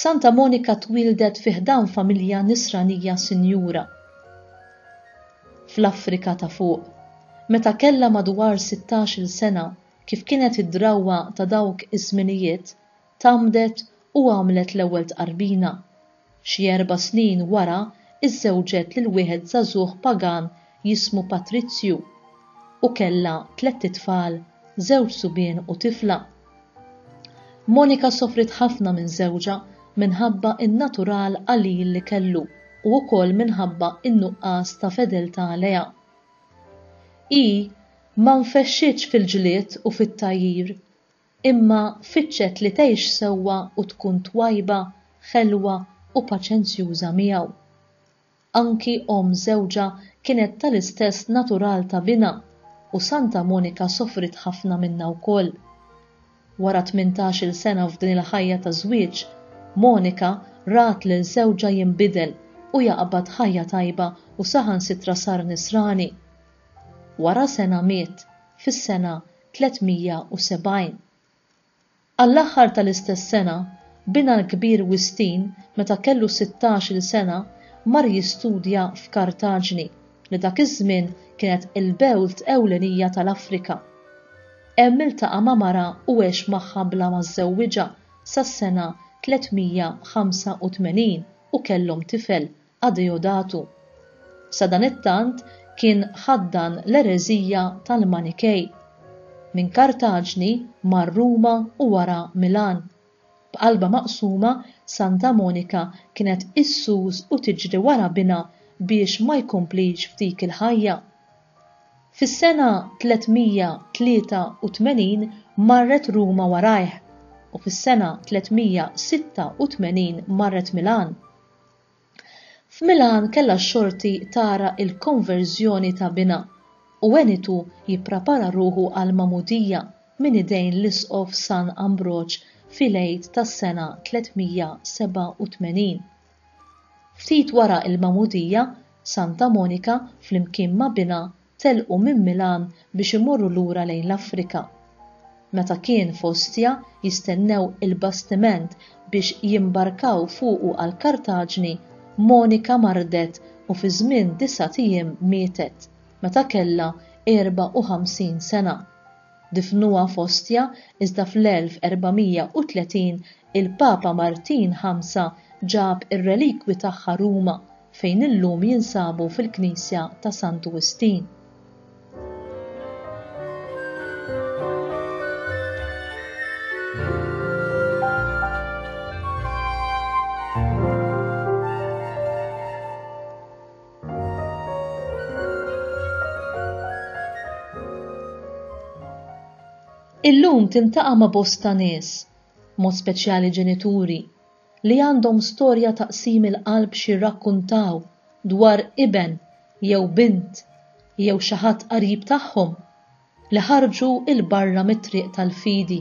Santa Monika twieldet fi ħdan familja Nisranija sinjura fl-Afrika ta' Fuq meta kellha madwar sittax-il sena kif kienet id-drawwa ta' dawk iż-żminijiet tgħammdet u għamlet l-ewwel tqarbina. Xi erba' snin wara iżżewġet lil wieħed żagħżugħ pagan jismu Patrizju u kellha tlett itfal, żewġ subien u tifla. Monika sofriet ħafna minn żewġha minħabba n-natural qalil li kellu u wkoll minħabba n-nuqqas ta' fedeltà lejha. Hi ma nfexxitx fil-ġlied u fit-tgħajjir, imma fittxet li tgħix sewwa u tkun twajba, ħelwa u paċenzjuża miegħu. Anki omm żewġha kienet tal-istess natural ta' binha u Santa Monika sofriet ħafna minnha wkoll. Wara tmintax-il sena f'din il-ħajja ta' żwieġ, Monika rat lil żewġha jinbidel u jaqbad ħajja tajba u saħansitra sar nisrani. Wara sena miet, fis-sena 370. Għall-aħħar tal-istess sena, binha l-kbir Wistin, meta kellu sittax-il sena, mar jistudja f'Kartaġni, li dak iż-żmien kienet il-belt ewlenija tal-Afrika. Hemm iltaqa' ma' mara u għex magħha bla ma żżewwiġha sas-sena 385 u kellhom tifel, Adeodatu. Sadanittant kien ħaddan l-ereżija tal-Manikej. Minn Kartaġni mar Ruma u wara Milan. B'qalbha maqsuma, Santa Monika kienet issus u tiġri wara binha biex ma jkomplix f'dik il-ħajja. Fis-sena 383 marret Ruma warajh u fis-sena 386 marret Milan. F'Milan kellha x-xorti tara l-konverżjoni ta' binha u għenitu jipprapara ruħu għall-magħmudija minn idejn l-Isqof San Ambroġ fil-Għid tas-sena 387. Ftit wara l-magħmudija, Santa Monika flimkien ma' binha telqu minn Milan biex imorru lura lejn l-Afrika. Meta kien f'Ostia jistennew il-bastiment biex jimbarkaw fuqu għal Kartaġni, Monika mardet u fi żmien disgħat ijiem mietet, meta kellha 54 sena. Difnuha f'Ostja iżda fl-1430 il-Papa Martin Ħamsa ġab ir-relikwi tagħha Ruma fejn illum jinsabu fil-Knisja ta' Sant Wistin. Illum tiltaqa' ma' bosta nies, b'mod speċjali ġenituri, li għandhom storja ta' qsim il-qalb x'jirrakkuntaw dwar iben jew bint jew xi ħadd qarib tagħhom. li ħarġu 'l barra mit-triq tal-fidi,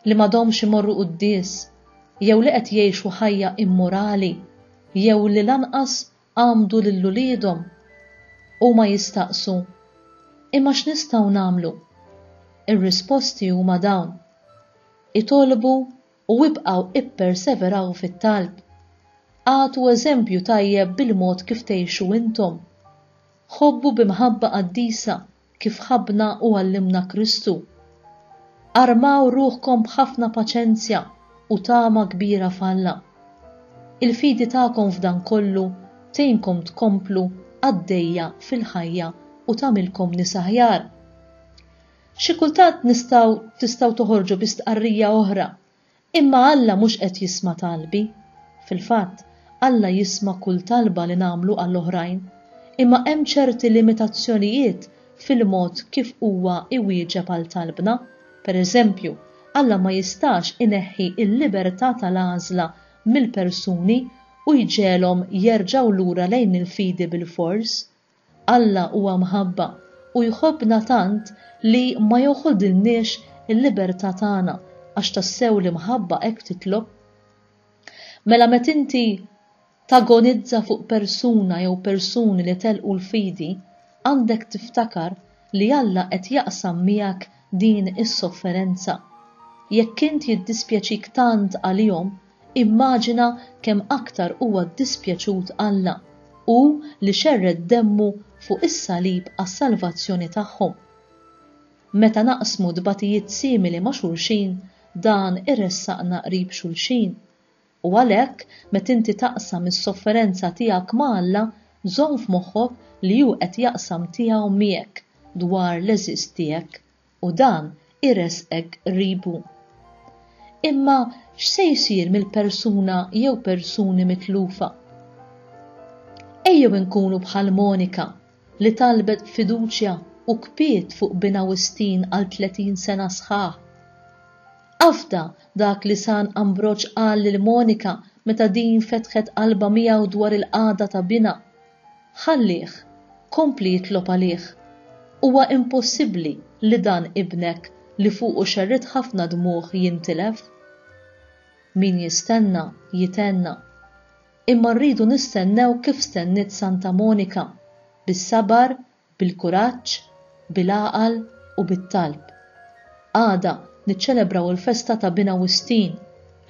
li m'għadhomx imorru quddies, jew li qed jgħixu ħajja immorali, jew li lanqas għammdu lil uliedhom. Huma jistaqsu, Imma x'nistgħu nagħmlu? Ir-risposti huma dawn, Itolbu u ibqgħu ipperseveraw fit-talb. Agħtu eżempju tajjeb bil-mod kif tgħixu intom. Ħobbu bi mħabba qaddisa kif ħabbna u għallimna Kristu. Armaw ruħkom b'ħafna paċenzja u tama kbira f'Alla. Il-fidi tagħkom f'dan kollu tgħinkom tkomplu għaddejja fil-ħajja u tagħmilkom nies aħjar. Xi kultant nistgħu tistgħu toħorġu bi stqarrija oħra Imma Alla mhux qed jisma' talbi. Fil-fatt, Alla jisma' kull talba li nagħmlu għal oħrajn. Imma hemm ċerti limitazzjonijiet fil-mod kif huwa jwieġeb għal talbna. Pereżempju, Alla ma jistax ineħħi l-libertà tal-għażla mill-persuni u jġegħelhom jerġgħu lura lejn il-fidi bilfors, Alla huwa mħabba u jħobbna tant li ma joħodilniex il-libertà tagħna għax tassew l-imħabba hekk titlob. Mela met inti tagonizza fuq persuna jew persuni li telqu l-fidi, għandek tiftakar li Alla qed jaqsam miegħek din is-sofferenza. Jekk int jiddispjaċik tant għalihom, Immaġina kemm aktar huwa ddispjaċut Alla, hu li xerred demmu fuq is-salib għas-salvazzjoni tagħhom. Meta naqsmu tbatijiet simili ma' xulxin, dan iressaqna qrib xulxin. U għalhekk, meta inti taqsam is-sofferenza tiegħek ma' Alla, żomm f'moħħok li hu qed jaqsam tiegħu miegħek dwar l-għeżież tiegħek u dan iressqek qribu. Imma x'se jsir mill-persuna jew persuni mitlufa? Ejjew inkunu bħal Monika li talbet b'fiduċja u kpiet fuq binha Wistin għal 30 sena sħaħ. Afda dak li San Ambroġ qal lil Monika meta din fetħet qalbha miegħu dwar il-qagħda ta' binha, Ħallih, kompli jitlob għalih. Huwa impossibbli li dan ibnek li fuqu xerridt ħafna dmugħ jintilef. Min jistenna, jitenna. Imma rridu nistennew kif stenniet Santa Monika, bis-sabar bil-kuraġġ, bil-għaqal u bit-talb. Għada niċċelebraw il-festa ta' Bin Awwistin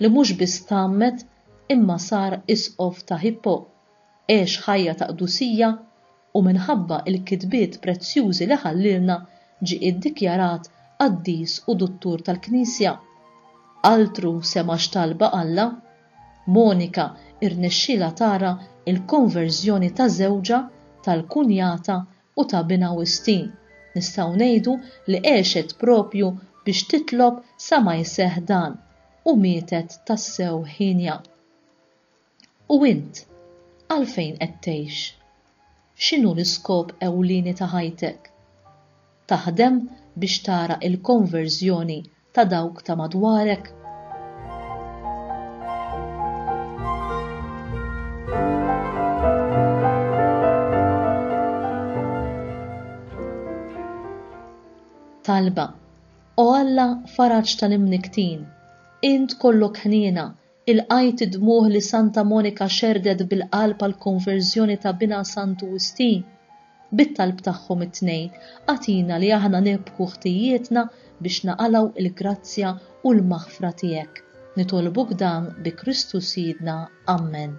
li mhux biss tgħammed imma sar Isqof ta' Hippo, għex ħajja ta' qdusija u minħabba il-kitbiet prezzjużi li ħallielna ġie iddikjarat qaddis u duttur tal-Knisja. Altru sema x'talba Alla! Monika rnexxielha tara l-konverżjoni ta' żewġha, tal-kunjata u ta' binha wistin. Nistgħu ngħidu li għexet proprju biex titlob sa ma jseħħ dan u mietet tassew hienja. U int? Għalfejn qed tgħix? X'inhu l-iskop ewlieni ta' ħajtek? Taħdem biex tara l-konverżjoni ta' dawk ta' madwarek? Talba, O Alla faraġ tal-imnikktin, int kollok ħniena, Ilqajt id-dmugħ li Santa Monika xerrdet bil-qalb għall-konverżjoni ta' binha Santu Wistin. Bit-talb tagħhom it-tnejn, agħtina li aħna nirbħu ħtijietna biex naqalgħu il-grazzja u l-maħfra tiegħek. Nitolbuk dan bi Kristu Sidna. Ammen.